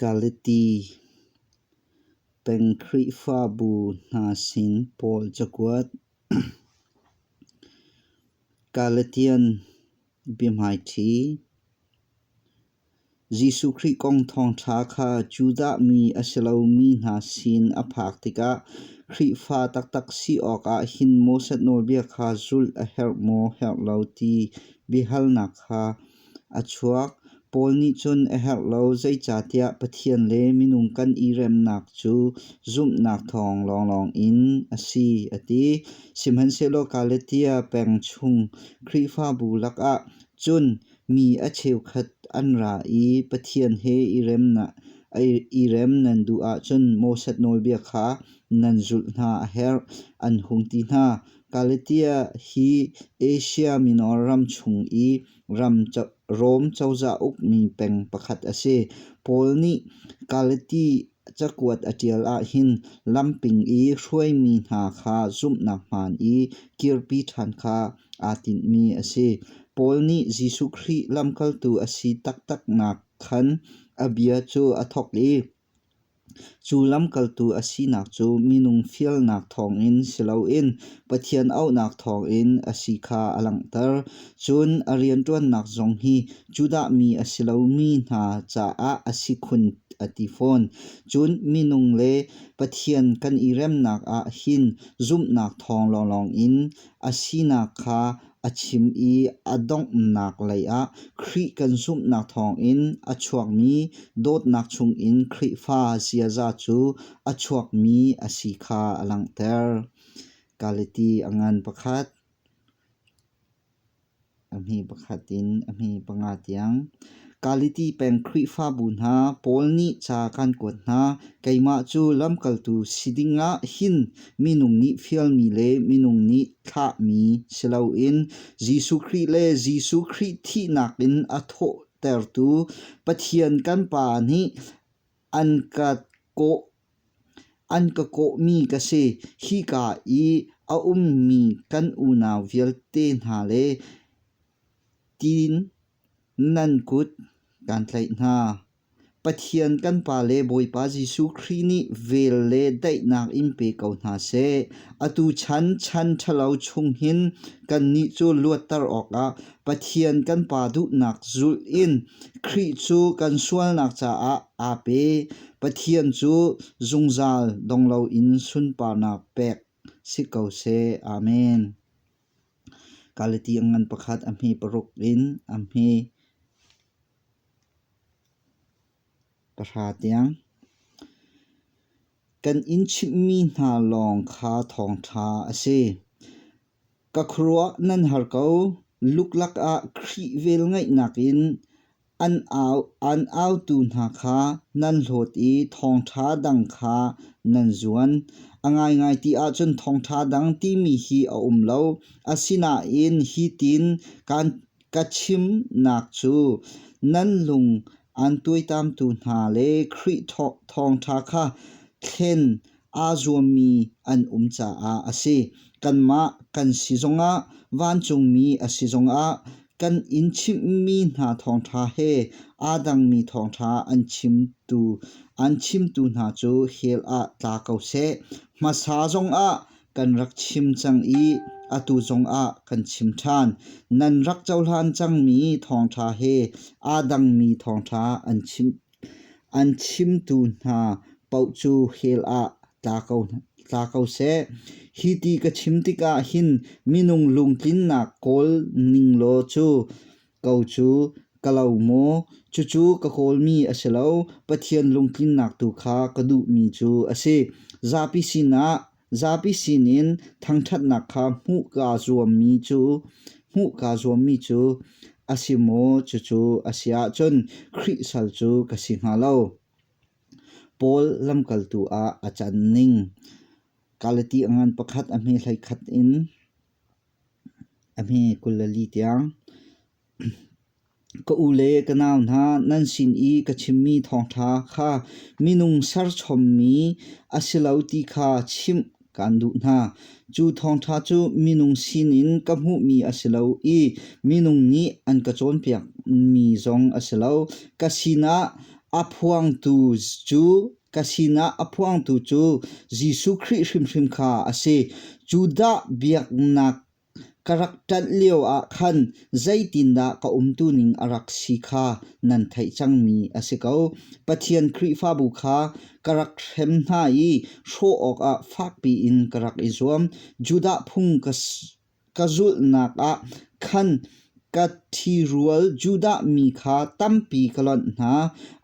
Galati peng Khrihfabu hna sin Paul cakuat Galatian biahmaiṭhi Jesuh Khrih kong thawngṭha kha Judah mi a si lomi hna sin a phak tikah Khrihfa taktak si awkah hin Moses nawlbia kha zulh a herh maw herh lo ti biahalnak kha a chuak. Paul nih cun a herh lo zeicahtiah Pathian le minung kan i remnak cu zumhnak thawng lawnglawng in a si a ti. Sihmanhsehlaw Galatia peng chung Khrihfabu lakah cun mi a cheukhat an ra i Pathian he i remnak i rem nan duh ahcun Moses nawlbia kha nan zulh hna a herh, an hung ti hna. Galatia hi Asia Minor ram chung i Rom cozah ukmi peng pakhat a si. Paul nih Galati cakuat a ṭial ahhin lamping i hruaimi hna kha zumhnak hmaan i kirpi ṭhan kha aa tinhmi a si. Paul nih Jesuh Khrih lamkaltu a si taktaknak khan a bia cu a thawk i Cu lamkaltu a sinak cu minung fialnak thawngin si loin Pathian auhnak thawngin a si kha a langhter. Cun a rianṭuannak zong hi Judah mi a si lomi hna caah a si khun a ti fawn. Cun minung le Pathian kan i remnak ah hin zumhnak thawng lawnglawng in a sinak kha a chim i a donghnak leiah Khrih kan zumhnak thawngin a chuakmi dawtnak chungin Khrihfa ziaza cu a chuakmi a si kha a langhter. Galati a ngan pakhat a hmi pakhat in a hmi panga tiang. Kaliti peng Khrihfabu hna pawl nih ca kan kuat hna. Keimah cu lamkaltu si dingah hin minung nih fialmi le minung nih thlahmi si loin Jesuh Khrih le Jesuh Khrih thihnak in a thawhtertu Pathian kan Pa nih an ka kawh an ka kawhmi ka si. Hika i a ummi kan unau vialte hna le tiin Nan kut kan tlaih hna. Pathian kan Pa le Bawipa Jesuh Khrih nih vel le daihnak in pe ko hna seh. Atu chan chan ṭhalo chung hin kannih cu luatter awkah Pathian kan Pa duhnak zulh in Khrih cu kan sualnak caah aa pe. Pathian cu zungzal dong loin sunparnak pek si ko seh. Amen. Kale tiang ngan pakhat a hmi paruk in a hmi pahra tiang. Kan in chimhmi hna lawng kha thawngṭha a si. Ka khuaruah nan har ko. Luklak ah Khrih velngeihnak in An autu hna kha nan hlawt i thawngṭha dang kha nan zuan. A ngaingai ti ahcun thawngṭha dang timi hi a um lo. Asinain hitin ka chimnak cu nan lung an tuaitamtu hna le Khrih thawngṭha kha thlen aa zuammi an um caah a si. Kanmah kan si zongah, vancungmi a si zongah kan in chimhmi hna thawngṭha he aa dangmi thawngṭha an chimtu an chimtu hna cu hell ah tla ko seh. Hmasa zongah kan rak chim cang i atu zongah kan chim ṭhan. Nan rak cohlan cangmi thawngṭha he aa dangmi thawngṭha an chim An chimtu hna paoh cu hell ah tla ko seh. Hi ti ka chim tikah hin minung lungtlinnak kawl ning law cu ko cu ka lo maw? Cucu ka kawlmi a si lo, Pathian lungtlinnak tu kha ka duhmi cu a si. Zapi sinah Zapi sinin thangṭhatnak kha hmuh kaa zuammi cu hmuh kaa zuammi cu a si maw? Cucu a si ahcun Khrih sal cu ka si hnga lo. Paul lamkaltu ah a can ning Galati a ngan pakhat a hme hlei khat in a hme kul le li tiang Ka u le ka nau hna nan sin i ka chimmi thawngṭha kha minung serchommi a si lo ti kha chimh kaan duh hna. Cu thawngṭha cu minung sinin ka hmuhmi a si lo i minung nih an ka cawnpiakmi zong a si lo. Ka sinah a phuangtu cu ka sinah a phuangtu cu Jesuh Khrih hrimhrim kha a si. Judah biaknak Ka rak ṭanh lioah khan zeitindah ka umtuning a rak si kha nan theih cangmi a si ko. Pathian Khrihfabu kha ka rak hrem hna i hrawh awkah fakpi in ka rak i zuam. Judah phung ka zulhnak ah khan Ka ṭhirual Judah mi kha tampi ka lonh hna;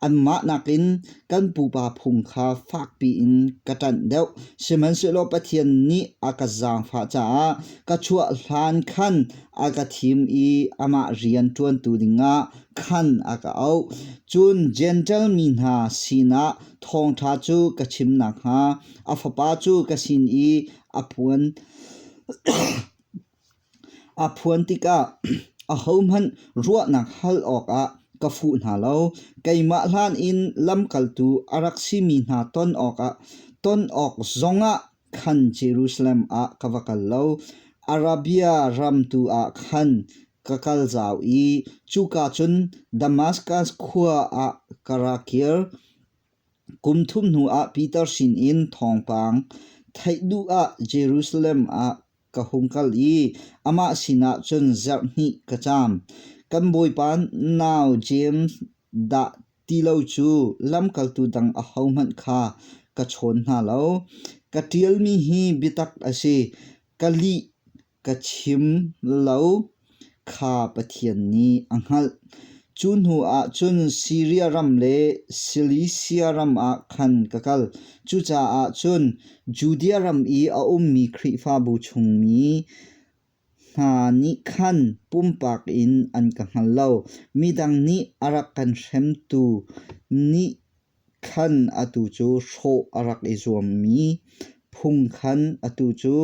anmah nakin kan pupa phung kha fakpi in ka ṭanh deuh. Sihmanhsehlaw Pathian nih a ka zaangfah caah ka chuah hlan khan a ka thim i amah rian ṭuantu dingah khan a ka auh. Cun Jentail mi hna sinah thawngṭha cu ka chim nakhnga, a Fapa cu ka sin i a puan A phuan tikah ahohmanh ruahnak hal awkah ka fuh hna lo. Keimah hlan in lamkaltu a rak simi hna ton awkah ton awk zongah khan Jerusalem ah ka va kal lo. Arabia ram tu ah khan ka kal zau i cuka cun Damaskas khua ah ka ra kir. Kum thum hnuah Piter sinin thawngpang theih duh ah Jerusalem ah ka hung kal i amah sinah cun zarh hnih ka caam. Kan bawipa nau James dah ti lo cu lamkaltu dang ahohmanh kha ka chawn hna lo. Ka ṭialmi hi biatak a si, ka lih ka chim lo. Kha Pathian nih a hngalh. Cu hnu ah cun Siria ram le Silisia ram ah khan ka kal. Cucaah cun Judea ram i a ummi Khrihfabu chungmi hna nih khan pumpak in an ka hngal lo. Midang nih a rak kan hremtu nih khan atu cu hrawh a rak i zuammi phung khan atu cu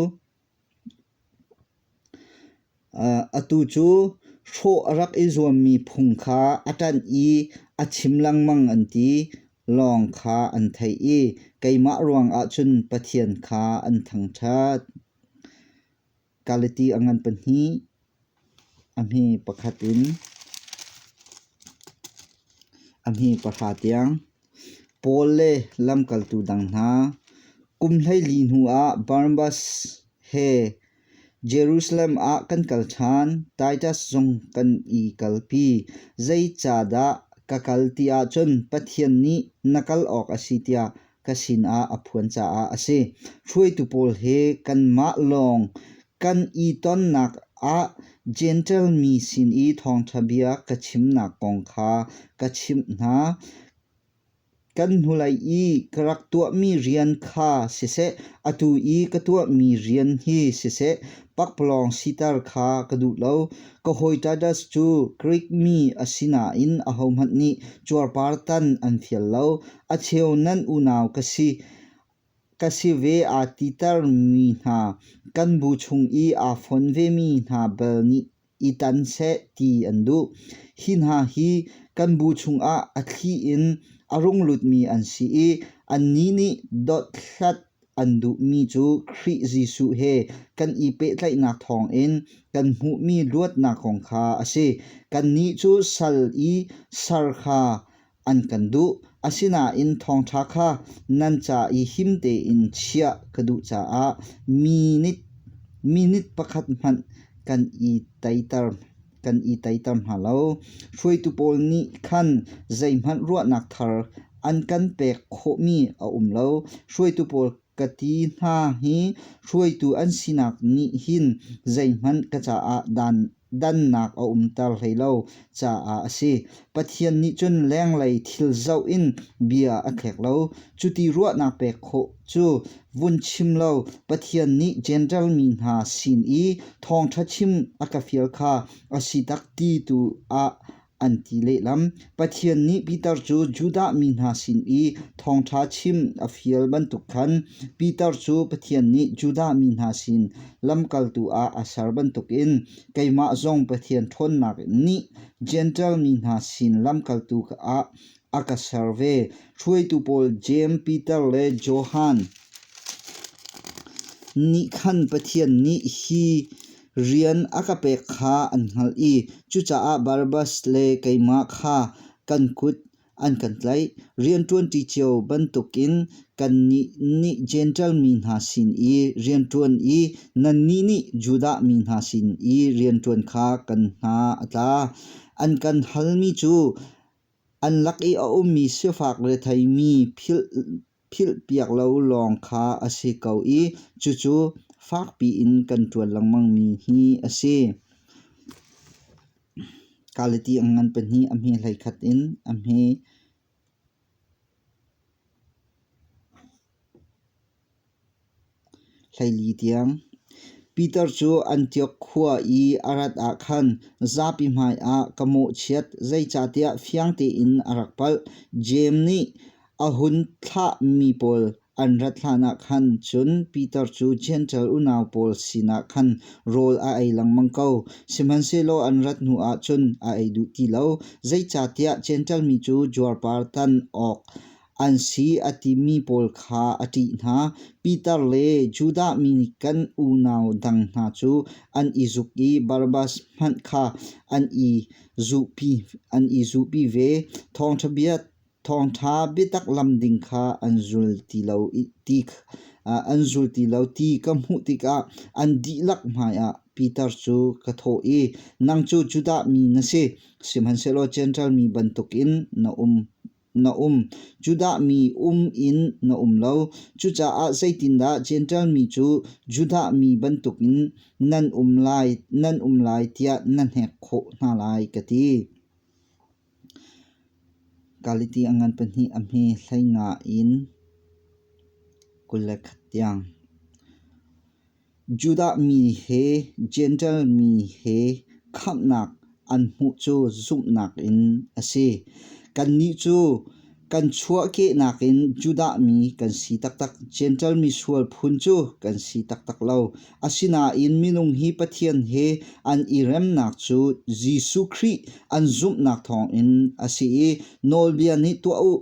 Atu cu hrawh a rak i zuammi phung kha a ṭanh i a chim lengmang an ti. Lawng kha an theih i keimah ruangah cun Pathian kha an thangṭhat. Galati a ngan pahnih A hni pahra tiang Paul le lamkaltu dang hna kum hleili hnuah Barnabas he Jerusalem ah kan kal ṭhan. Titus zong kan i kalpi. Zeicahdah ka kal ti ahcun Pathian nih na kal awk a si tiah ka sinah a phuan caah a si. Hruaitu pawl he kanmah lawng Kan i tonnak ah Jentail mi sin i thawngṭha bia ka chimnak kong kha ka chimh hna. Kan hnulei i ka rak tuahmi rian kha siseh, atu i ka tuahmi rian hi siseh, pakpalawng siter kha ka duh lo. Kohoitadas cu Grik mi a si nain ahohmanh nih cuarpartan an fial lo. A cheu nan unau ka si, Ka si ve aa titermi hna kan bu chung i aa fon vemi hna bal nih i tan seh ti an duh. Hi hna hi kan bu chungah a thli in a runglutmi an si i annih nih dothlat an duhmi cu Khrih Jesuh he kan i pehtlaihnak thawngin kan hmuhmi luatnak kong kha a si. Kannih cu sal i sar kha an kan duh. Asinain thawngṭha kha nan ca i him tein chiah ka duh caah minit minit pakhat hmanh kan i teiter kan i teiter hna lo. Hruaitu pawl nih khan zeihmanh ruahnak thar an kan pek khawhmi a um lo. Hruaitu pawl Ka ti hna hi hruaitu an sinak nih hin zeihmanh ka caah dannak a umter hlei lo caah a si. Pathian nih cun lenglei thil zoh in bia a thlek lo. Cuti ruahnak pek khawh cu vun chim law Pathian nih Jentail mi hna sin i thawngṭha chim a ka fial kha a si tak ti tu ah an ti lehlam. Pathian nih Peter cu Judah mi hna sin i thawngṭha chim a fial bantuk khan Peter cu Pathian nih Judah mi hna sin lamkaltu ah a ser bantukin keimah zong Pathian ṭhawnnak nih Jentail mi hna sin lamkaltu ah a ka ser ve. Hruaitu pawl Jeim, Piter le Johan nih khan Pathian nih hi rian a ka pek kha an hngalh i cucaah Barabas le keimah kha kan kut an kan tlaih. Rianṭuanṭi cio bantukin kannih nih Jentail mi hna sin i rianṭuan i nannih nih Judah mi hna sin i rianṭuan kha kan hna a tla. An kan halmi cu An lak i a ummi sifak retheimi philhpiak lo lawng kha a si ko i cucu fakpi in kan ṭuan lengmangmi hi a si. Kalati ang ngan pahnih a hme hleikhat in a hme. Hleili tiang. Peter cu Antiok khua i a rat ah khan zapi hmaiah ka mawhchiat, zeicahtiah fiang tein a rak palh. Jeim nih a hun thlahmi pawl an rat hlanah khan cun Peter cu Jentail unau pawl sinah khan rawl a ei lengmang ko. Sihmanhsehlaw an rat hnuah cun a ei duh ti lo. Zeicahtiah Jentail mi cu juarpar tan awk an si a timi pawl kha a ṭih hna. Piter le Judah mi nih kan unau dang hna cu an i zuk i Barabbas hmanh kha an i zuhpi an i zuhpi ve. Thawngṭha bia thawngṭha biatak lam ding kha an zul ti lo ti an zul ti lo ti ka hmuh tikah an dihlak hmaiah Piter cu ka thawh i, Nang cu Judah mi na si, sihmanhsehlaw Jentail mi bantukin na um na um. Judah mi um in na um lo. Cucaah zeitindah Jentail mi cu Judah mi bantukin nan um lai, nan um lai tiah na hnek khawh hna lai ka ti. Galiti a ngan pahnih a hme hleinga in kule khat tiang. Judah mi he Jentail mi he khamhnak an hmuh cu zumhnak in a si. Kannih cu kan chuahkehnak in Judah mi kan si taktak. Jentail mi sual phun cu kan si taktak lo. Asinain minung hi Pathian he an i remnak cu Jesuh Khrih an zumhnak thawngin a si i nawlbia nih tuah u.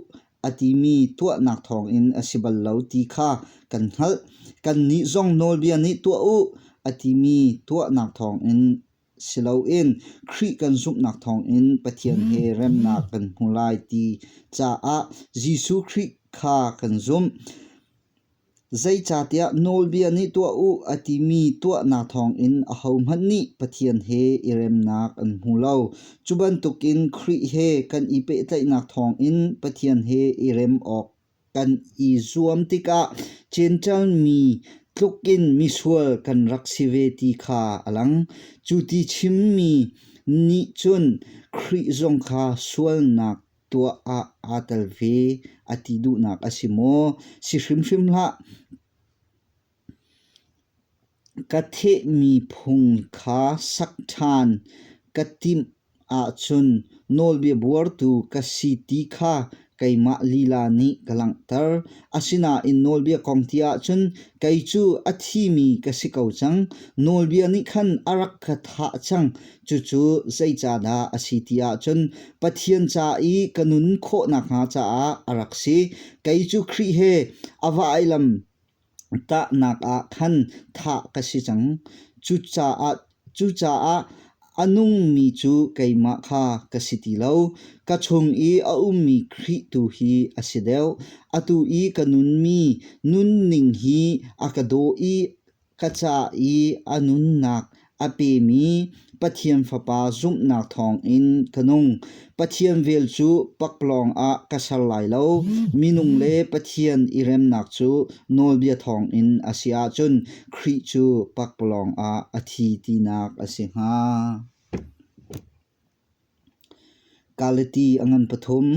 a timi tuahnak thawngin a si bal lo ti kha kan hngalh. Kannih zong nawlbia nih tuah u a timi tuahnak thawngin si loin Khrih kan zumhnak thawngin Pathian he remnak kan hmu lai ti caah Jesuh Khrih kha kan zumh. Zeicahtiah nawlbia nih tuah u a timi tuahnak thawngin ahohmanh nih Pathian he i remnak an hmu lo. Cu bantukin Khrih he kan i pehtlaihnak thawngin Pathian he i rem awk kan i zuam tikah cenṭanmi tlukin misual kan rak si ve ti kha a lang. Cu ti chimmi nih cun Khrih zong kha sualnak tuah ah aa tel ve a ti duhnak a si maw? Si hrimhrim hlah. Ka thehmi phung kha sak ṭhan ka timh ahcun nawlbia buartu ka si ti kha keimah lila nih ka langhter. Asinain nawlbia kong ti ahcun kei cu a thimi ka si ko cang. Nawlbia nih khan a rak ka thah cang. Cucu zei ca dah a si ti ahcun Pathian ca i ka nun khawh nakhnga caah a rak si. Kei cu Khrih he a vailam tahnak ah khan thah ka si cang. Cucaah, cucaah a nungmi cu keimah kha ka si ti lo. Ka chung i a ummi Khrih tu hi a si deuh. Atu i ka nunmi nunning hi a ka daw i Ka ca i a nunnak a pemi Pathian Fapa zumhnak thawngin ka nung. Pathian vel cu paklawng ah ka ser lai lo. Minung le Pathian i remnak cu nawlbia thawngin a si ahcun Khrih cu paklawng ah a thi tinak a si hnga. Galati a ngan pathum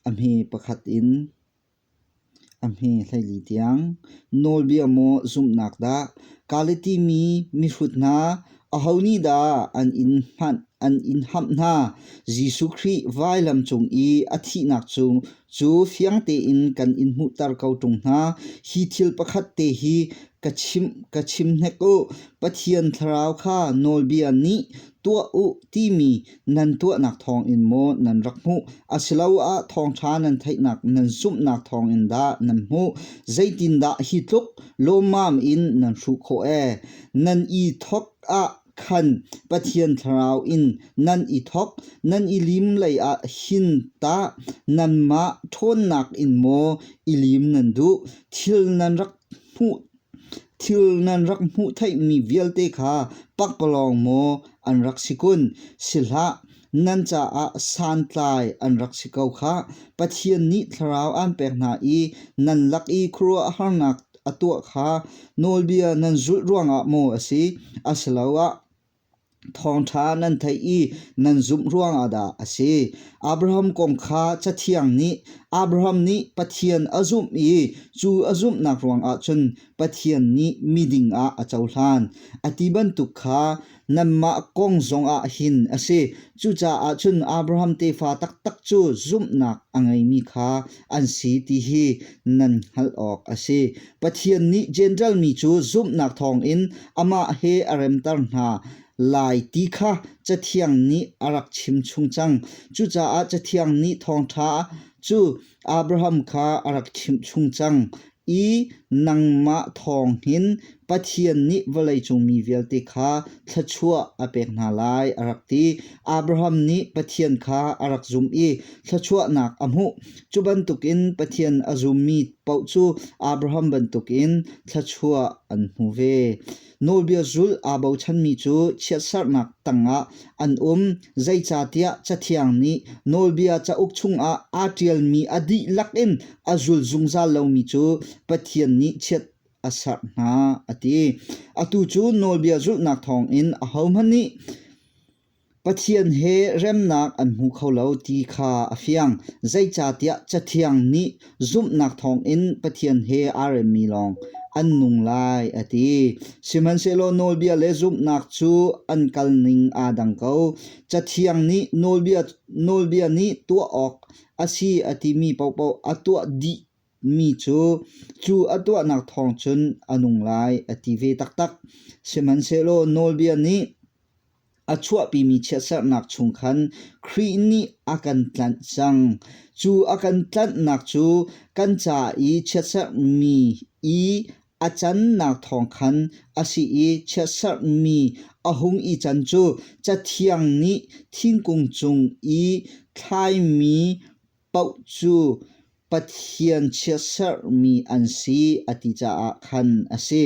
a hme pakhat in A hme hleili tiang nawlbia maw zumhnak dah Galiti mi mihrut hna aho nih dah an in hamh hna? Jesuh Khrih vailam cung i a thihnak cu fiang tein kan in hmuhter ko ṭung hna. Hi thil pakhat te hi ka chim hnek u, Pathian Thlarau kha nawlbia nih tuah u timi Nan tuahnak thawngin maw nan rak hmuh asiloah thawngṭha nan theihnak nan zumhnak thawngin dah nan hmuh? Zeitindah hi tluk lawmmam in nan hruh khawh ee? Nan i thawk ah khan Pathian Thlarau in nan i thawk, nan i lim lei ah hin tah nanmah ṭhawnnak in maw i lim nan duh? Thil nan rak hmuh Thil nan rak hmuh theihmi vialte kha pakpalawng maw an rak si kun? Si hlah, nan caah santlai an rak si ko khah. Pathian nih thlarau aan pek hna i nan lak i khuaruahharnak a tuah kha nawlbia nan zulh ruangah maw a si? Asiloah Thawngṭha nan theih i nan zumh ruangah dah a si? Abraham kong kha Cathiang nih Abraham nih Pathian a zumh i cu a zumhnak ruangah cun Pathian nih miding ah a cohlan a ti bantuk kha nanmah kong zongah hin a si. Cucaah cun Abraham tefa taktak cu zumhnak a ngeimi kha an si ti hi nan hngalh awk a si. Pathian nih Jentail mi cu zumhnak thawngin amah he a remter hna lai ti kha Cathiang nih a rak chimchung cang. Cucaah Cathiang nih thawngṭha cu Abraham kha a rak chimchung cang i nangmah thawng hin Pathian nih vawleicung mi vialte kha thluachuah a pek hna lai a rak ti. Abraham nih Pathian kha a rak zumh i thluachuahnak a hmuh. Cu bantukin Pathian a zummi paoh cu Abraham bantukin thluachuah an hmu ve. Nawlbia zulh aa bochanmi cu chiatserhnak tangah an um. Zeicahtiah Cathiang nih Nawlbia cauk chungah aa ṭialmi a dihlak in a zul zungzal lomi cu Pathian nih chiat a serh hna a ti. Atu cu Nawlbia zulhnak thawngin ahohmanh nih Pathian he remnak an hmu kho lo ti kha a fiang, zeicahtiah Cathiang nih zumhnak thawngin Pathian he aa remmi lawng an nung lai a ti. Sihmanhsehlaw nawlbia le zumhnak cu an kalning aa dang ko. Cathiang nih nawlbia, nawlbia nih tuah awk a si a timi paohpaoh a tuah dih Mi cu cu a tuahnak thawng cun a nung lai a ti ve taktak. Sihmanhsehlaw Nawlbia nih a chuahpimi chiatserhnak chung khan Khrih nih a kan tlanh cang. Cu a kan tlanhnak cu kan ca i chiatserhmi i a cannak thawng khan a si i chiatserhmi a hung i can cu Cathiang nih thingkung cung i thlaimi Paoh cu Pathian chiatserhmi an si a ti caah khan a si.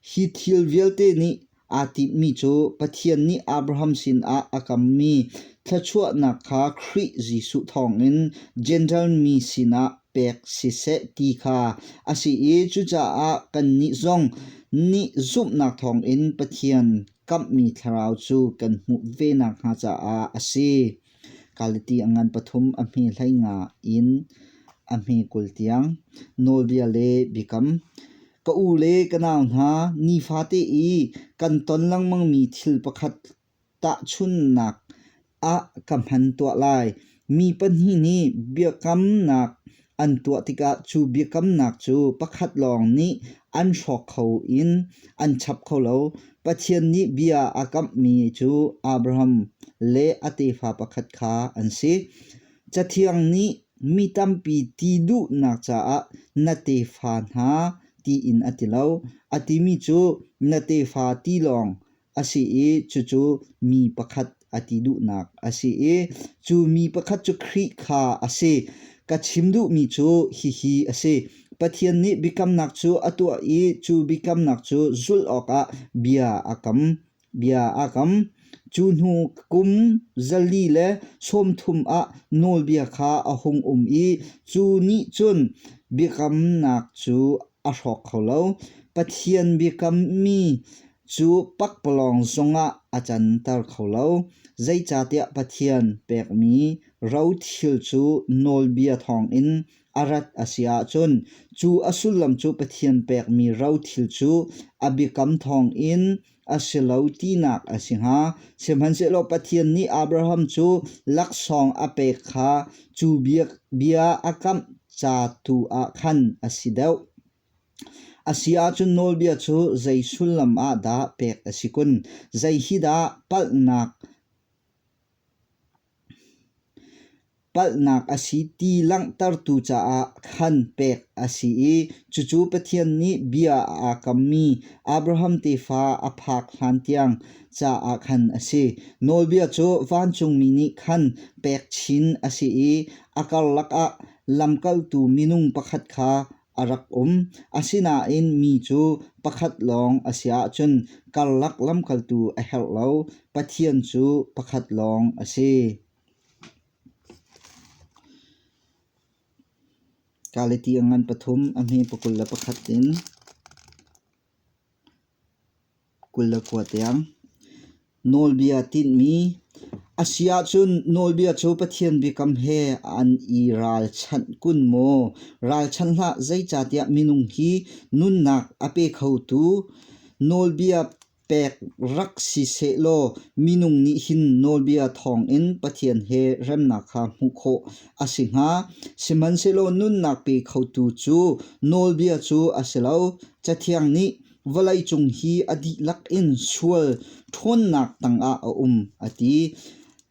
Hi thil vialte nih aa timhmi cu Pathian nih Abraham sinah a kammi thluachuahnak kha Khrih Jesuh thawngin Jentail mi sinah pek siseh ti kha a si i cucaah kannih zong nih zumhnak thawngin Pathian kamhmi thlarau cu kan hmuh ve nakhnga caah a si. Kaliti a ngan pathum a hme hlei nga in a hme kul tiang. Nawlbia le biakam. Ka u le ka nau hna, nifate i kan ton lengmangmi thil pakhat tahchunhnak ah ka hman tuah lai. Mi pahnih nih biakamnak An tuah tikah cu biakamnak cu pakhat lawng nih an hrawk kho in an chap kho lo. Pathian nih bia a kamhmi cu Abraham le a tefa pakhat kha an si. Cathiang nih mi tampi ti duhnak caah na tefa hna tiin a ti lo. A timi cu na tefa ti lawng a si i cucu mi pakhat a ti duhnak a si i cu mi pakhat cu Khrih kha a si. Ka chim duhmi cu hihi a si. Pathian nih biakamnak cu a tuah i cu biakamnak cu zulh awkah bia a kam. Bia a kam. Cu hnu kum zali le sawmthum ah nawlbia kha a hung um i cu nih cun biakamnak cu a hrawk kho lo. Pathian biakammi Cu pakpalawng zongah a canter kho lo, zeicahtiah Pathian pekmi rothil cu nawlbia thawngin a rat a si ahcun cu a sullam cu Pathian pekmi rothil cu a biakam thawngin a si lo tinak a si hnga. Sihmanhsehlaw Pathian nih Abraham cu laksawng a pek kha cu bia, bia a kamh ca tu ah khan a si deuh. A si ahcun nawlbia cu zei sullam ah dah pek a si kun? Zei hi dah palhnak, palhnak a si ti langhtertu caah khan pek a si i cucu Pathian nih bia aa kammi Abraham tefa a phak hlan tiang caah khan a si. Nawlbia cu vancungmi nih khan pek chin a si i a karlak ah lamkaltu minung pakhat kha a rak um. Asinain mi cu pakhat lawng a si ahcun karlak lamkaltu a herh lo. Pathian cu pakhat lawng a si. Galati a ngan pathum a hme pakul le pakhat in Kul le kua tiang. Nawlbia tinhmi a si ahcun nawlbia cu Pathian biakam he an i ralchanh kun maw? Ralchanh hlah, zeicahtiah minung hi nunnak a pe khotu nawlbia pek rak si seh law minung nih hin nawlbia thawngin Pathian he remnak kha hmuh khawh a si hnga. Sihmanhsehlaw nunnak pe khotu cu nawlbia cu a si lo. Cathiang nih vawleicung hi a dihlak in sual ṭhawnnak tangah a um a ti.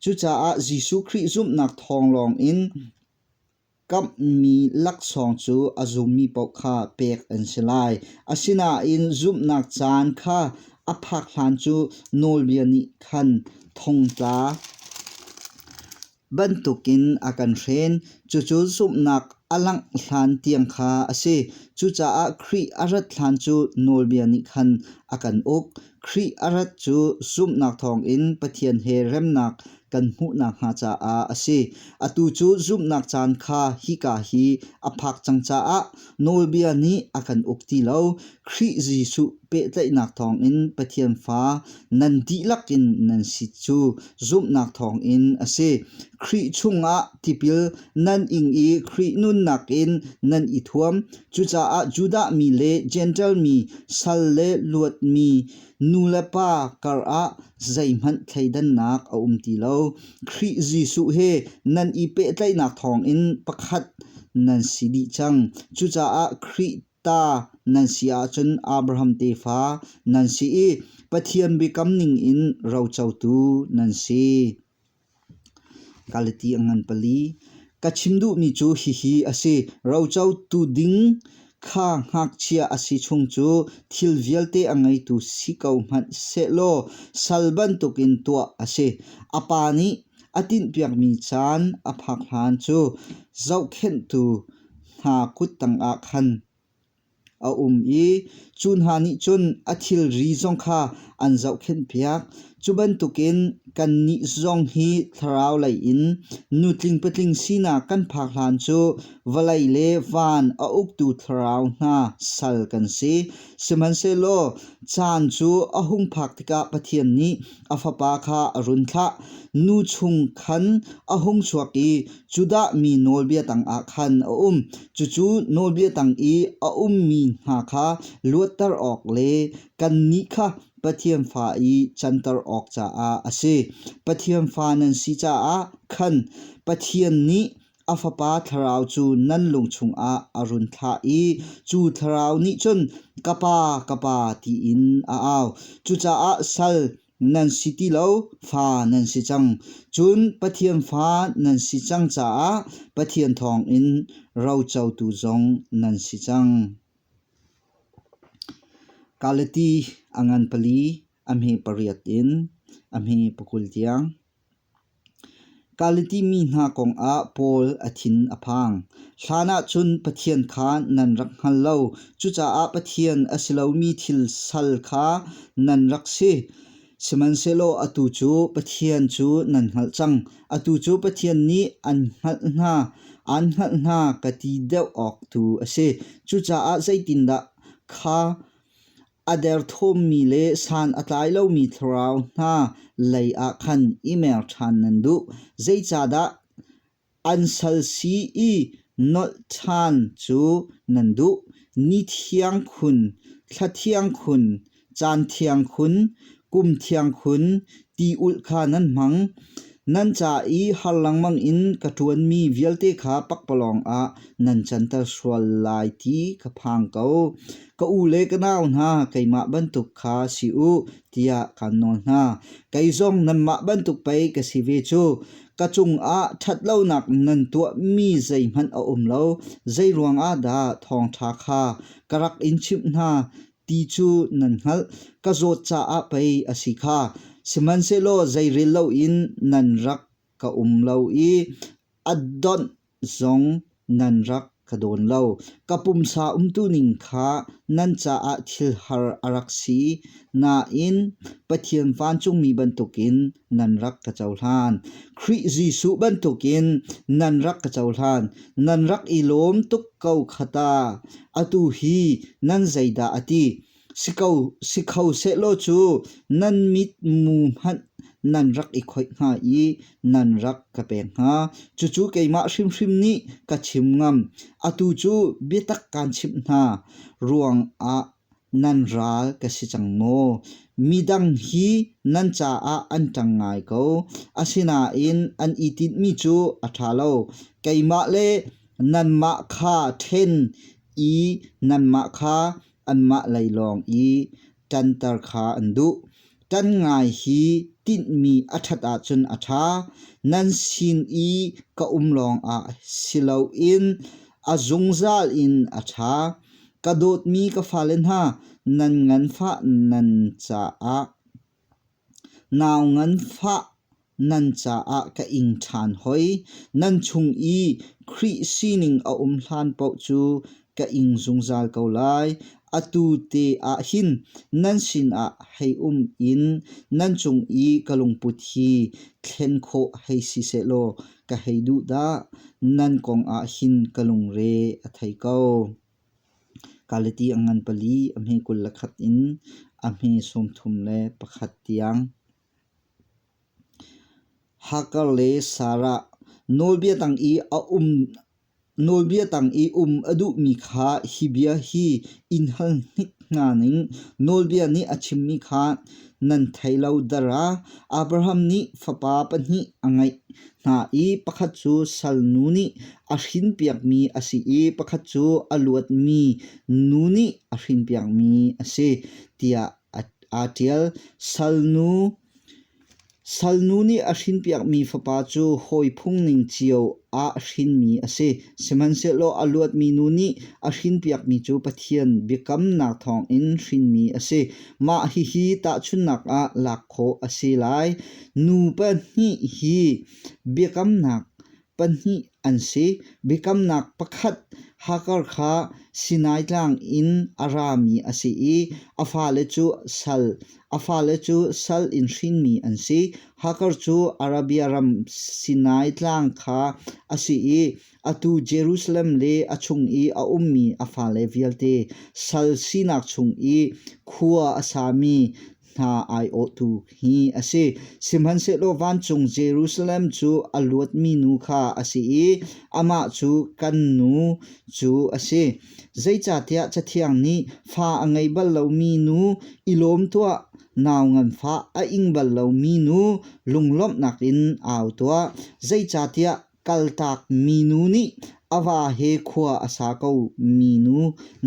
Cucaah Jesuh Khrih zumhnak thawng lawng in kamhmi laksawng cu a zummi paoh kha pek an si lai. Asinain zumhnak caan kha a phak hlan cu nawlbia nih khan thongtla bantukin a kan hren. Cucu zumhnak a langh hlan tiang kha a si. Cucaah Khrih a rat hlan cu nawlbia nih khan a kan uk. Khrih a rat cu zumhnak thawngin Pathian he remnak kan hmuh nakhnga caah a si. Atu cu zumhnak caan kha hika hi a phak cang caah Nawlbia nih a kan uk ti lo. Khrih Jesuh pehtlaihnak thawngin Pathian fa nan dihlak in nan si cu zumhnak thawngin a si. Khrih chungah tipil nan ing i Khrih nunnak in nan i thuam. Cucaah Judah mi le Jentail mi, sal le luat mi, Nu le pa karah zeihmanh thleidannak a um ti lo. Khrih Jesuh he nan i pehtlaihnak thawngin pakhat nan si dih cang. Cucaah Khrih ta nan si ahcun Abraham tefa nan si i Pathian biakam ningin rocotu nan si. Kalati a ngan pali. Ka chim duhmi cu hihi a si. Rocotu ding kha ngakchia a si chung cu thil vialte a ngeitu si ko hmanh sehlaw sal bantukin tuah a si. A pa nih a tinhpiakmi caan a phak hlan cu zohkhenhtu hna kut tangah khan A um i cu hna nih cun a thilri zong kha an zohkhenhpiak. Cu bantukin kannih zong hi thlaraulei in nutling patling sinak kan phak hlan cu vawlei le van a uktu thlarau hna sal kan si. Sihmanhsehlaw caan cu a hung phak tikah Pathian nih A fapa kha a run thlah. Nu chung khan a hung chuak i Judah mi nawlbia tangah khan a um. Cucu nawlbia tang i a ummi hna kha luatter awk le kannih kha Pathian fa i canter awk caah a si. Pathian fa nan si caah khan Pathian nih A fapa thlarau cu nan lung chungah a run thlah i cu thlarau nih cun ka pa, ka pa tiin a au. Cucaah sal nan si ti lo, fa nan si cang. Cun Pathian fa nan si cang caah Pathian thawngin rocotu zong nan si cang. Galati a ngan pali a hme pariat in a hme pakul tiang. Galiti mi hna kongah Paul a thin a phang. Hlanah cun Pathian kha nan rak hngal lo. Cucaah Pathian a si lomi thil sal kha nan rak si. Sihmanhsehlaw atu cu Pathian cu nan hngalh cang. Atu cu Pathian nih an hngalh hna, an hngalh hna ka ti deuh awk tu a si. Cucaah zeitindah kha A derthawmmi le san a tlai lomi thlarau hna lei ah khan i mer ṭhan nan duh. Zeicahdah an sal si i nolh ṭhan cu nan duh? Ni thiang khun, thla thiang khun, caan thiang khun, Kum thiang khun ti ulh kha nan hmang, nan ca i har lengmang in ka ṭuanmi vialte kha pakpalawng ah nan canter sual lai ti ka phang ko. Ka u le ka nau hna, keimah bantuk kha si u, tiah kan nawl hna. Kei zong nanmah bantuk pei ka si ve cu. Ka cungah ṭhat lonak nan tuahmi zeihmanh a um lo, zei ruangah dah thawngṭha kha ka rak in chimh hna Ti cu nan hngalh, ka zawt caah pei a si kha. Sihmanhsehlaw zeirel loin nan rak ka um lo i a donh zong nan rak ka dawn lo. Ka pumsa umtu ning kha nan caah thil har a rak si, nain Pathian vancungmi bantukin nan rak ka cohlan. Khrih Jesuh bantukin nan rak ka cohlan. Nan rak i lawm tuk ko khata. Atu hi nan zeidah a ti? Si ko, si kho sehlaw cu nan mit mu hmanh nan rak i khoih hnga i nan rak ka pek hnga. Cucu keimah hrimhrim nih ka chim ngam. Atu cu biatak kaan chimh hna ruangah Nan ral ka si cang maw? Midang hi nan caah an ṭang ngai ko. Asinain an i tinhmi cu a ṭha lo. Keimah le nanmah kha ṭhen i nanmah kha anmah lei lawng i ṭanter kha an duh. Ṭan ngai hi tinhmi a ṭhat ahcun a ṭha. Nan sin i ka um lawngah si loin a zungzal in a ṭha. Ka dawtmi ka fale hna, nan nganfah nan caah nau nganfah Nan caah ka ing ṭhan hoi. Nan chung i Khrih sining a um hlan paoh cu ka ing zungzal ko lai. Atu te ah hin nan sinah hei um in nan cung i ka lungput hi thlen khawh hei si sehlaw ka hei duh dah. Nan kong ah hin ka lungre a thei ko. Galati a ngan pali a hme kul le khat in a hme sawmthum le pakhat tiang. Hacker le Sarah nawlbia tang i a um nawlbia tang i um a duhmi kha hi bia hi in hal hnik hna ning. Nawlbia nih a chimmi kha nan thei lo dar ah Abraham nih fapa pahnih a ngeih hna i pakhat cu salnu nih a hrinpiakmi a si i pakhat cu a luatmi nu nih a hrinpiakmi a si tiah aa ṭial. Salnu Salnu nih a hrinpiakmi fapa cu hawi phungning cio ah hrinmi a si. Sihmanhsehlaw a luatmi nu nih a hrinpiakmi cu Pathian biakamnak thawngin hrinmi a si. Mah hihi tahchunhnak ah lak khawh a si lai. Nu pahnih hi biakamnak pahnih an si. Biakamnak pakhat Hagar kha Sinai Tlang in a rami a si i a fale cu sal a fale cu sal in hrinmi an si. Hagar cu Arabia ram Sinai Tlang kha a si i atu Jerusalem le a chung i a ummi a fale vialte sal sinak chung i khua a sami hna aiawhtu hi a si. Sihmanhsehlaw vancung Jerusalem cu a luatmi nu kha a si i amah cu kan nu cu a si. Zeicahtiah Cathiang nih fa a ngei bal lomi nu, i lawm tuah nau nganfah a ing bal lomi nu lunglawmhnak in au tuah. Zeicahtiah Kaltak minu nih a va he khua a sa ko minu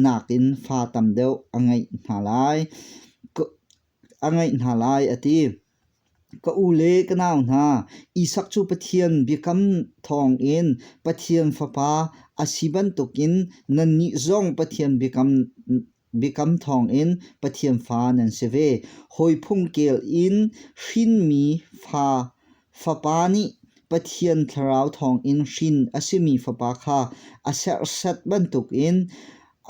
nakin fa tam deuh a ngeih hna lai, a ti. Ka u le ka nau hna, Isak cu Pathian biakam thawngin Pathian fapa a si bantukin nannih zong Pathian biakam Biakam thawngin Pathian fa nan si ve. Hawi phungkel in hrinmi fa fapa nih Pathian thlarau thawngin hrin a simi fapa kha a serhsat bantukin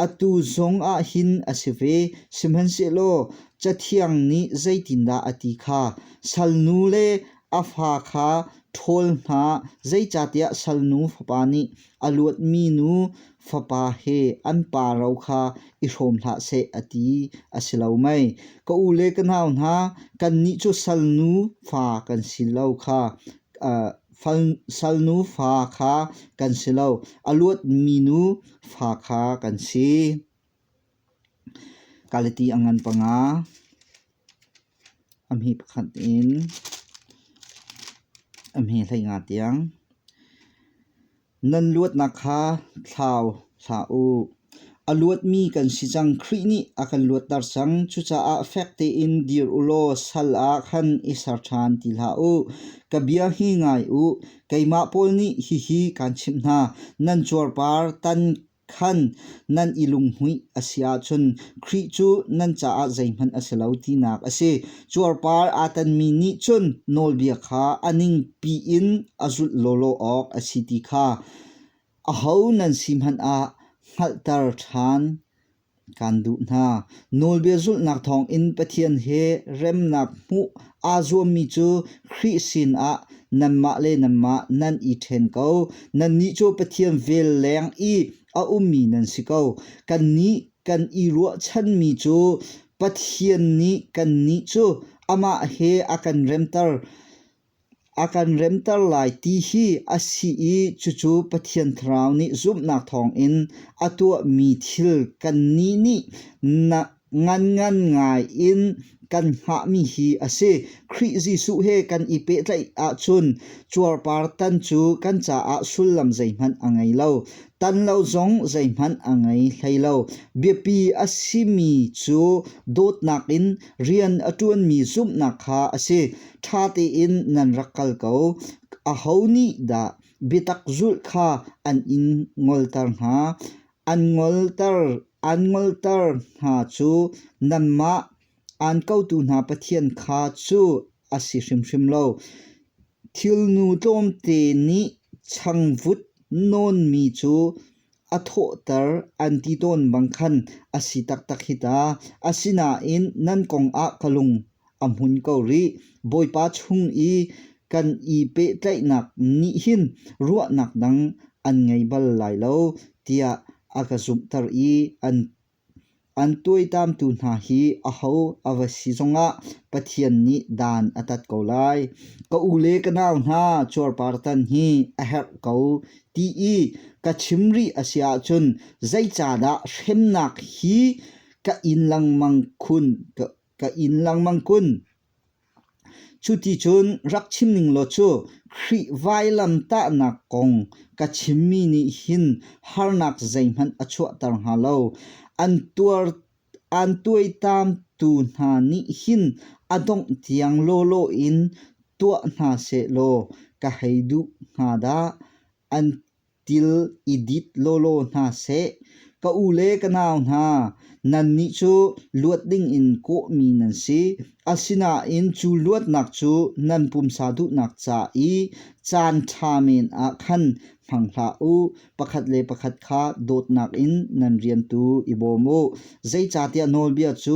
atu zong ah hin a si ve. Sihmanhsehlaw Cathiang nih zeitindah a ti kha sal nu le A fa kha ṭhawl hna, zeicahtiah salnu fapa nih a luatmi nu fapa he an pa ro kha i hrawm hlah seh, a ti a si lo mei? Ka u le ka nau hna, kannih cu salnu fa kan si lo kha salnu fa kha kan si lo, a luatmi nu fa kha kan si. Kaliti a ngan panga, a hmi pakhat in a hmi hlei nga tiang. Nan luatnak kha thlau hlah u. A luatmi kan si cang. Khrih nih a kan luatter cang. Cucaah fek tein dir u law sal ah khan i ser ṭhan ti hlah u. Ka bia hi ngai u. Keimah pawl nih hihi kaan chimh hna. Nan cuarpar tan Khan nan i lunghmuih a si ahcun Khrih cu nan caah zeihmanh a si lo tinak a si. Cuarpar aa tanmi nih cun nawlbia kha a ningpi in a zulh lawlaw awk a si ti kha aho nan si hmanh ah hngalhter ṭhan. Kaan duh hna. Nawlbia zulhnak thawngin Pathian he remnak hmuh aa zuammi cu Khrih sinah nanmah le nanmah nan i ṭhen ko. Nannih cu Pathian vel leng i a ummi nan si ko. Kannih kan i ruahchanmi cu Pathian nih kannih cu amah he a kan remter. A kan remter lai ti hi a si i cucu Pathian Thlarau nih zumhnak thawngin a tuahmi thil kannih nih nganngan ngai in kan hngahmi hi a si. Khrih Jesuh he kan i pehtlaih ahcun cuarpartan cu kan caah sullam zeihmanh a ngei lo. Tan lo zong zeihmanh a ngei hlei lo. Biapi a simi cu dawtnak in Rian a ṭuanmi zumhnak kha a si. Ṭha tein nan rak kal ko. Aho nih dah biatak zulh kha an in ngolter hna? An ngolter an ngolter hna cu nanmah aan kotu hna Pathian kha cu a si hrimhrim lo. Thilnu tlawmte nih changvut nawnmi cu a thawhter an ti tawn bang khan a si taktak hi ta. Asinain nan kongah ka lung a hmun ko rih. Bawipa chung i kan i pehtlaihnak nih hin ruahnak dang an ngei bal lai lo tiah a ka zumhter i an An tuaitamtu hna hi aho a va si zongah Pathian nih dan a tat ko lai. Ka u le ka nau hna cuarpartan hi a herh ko ti i ka chim rih a si ahcun zeicahdah hremnak hi ka in lengmang kun? Cu ti cun rak chim ning law cu Khrih vailamtahnak kong ka chimmi nih hin harnak zeihmanh a chuahter hnga lo. An tuar an tuaitamtu hna nih hin a dongh tiang lawlaw in tuah hna seh law ka hei duh hnga dah. An Til i dit lawlaw hna seh. Ka u le ka nau hna, nannih cu luat dingin kawhmi nan si. Asinain cu luatnak cu nan pumsa duhnak ca i caan ṭha men ah khan hmang hlah u. Pakhat le pakhat kha dawtnak in nan rian tu i bawm u. Zeicahtiah nawlbia cu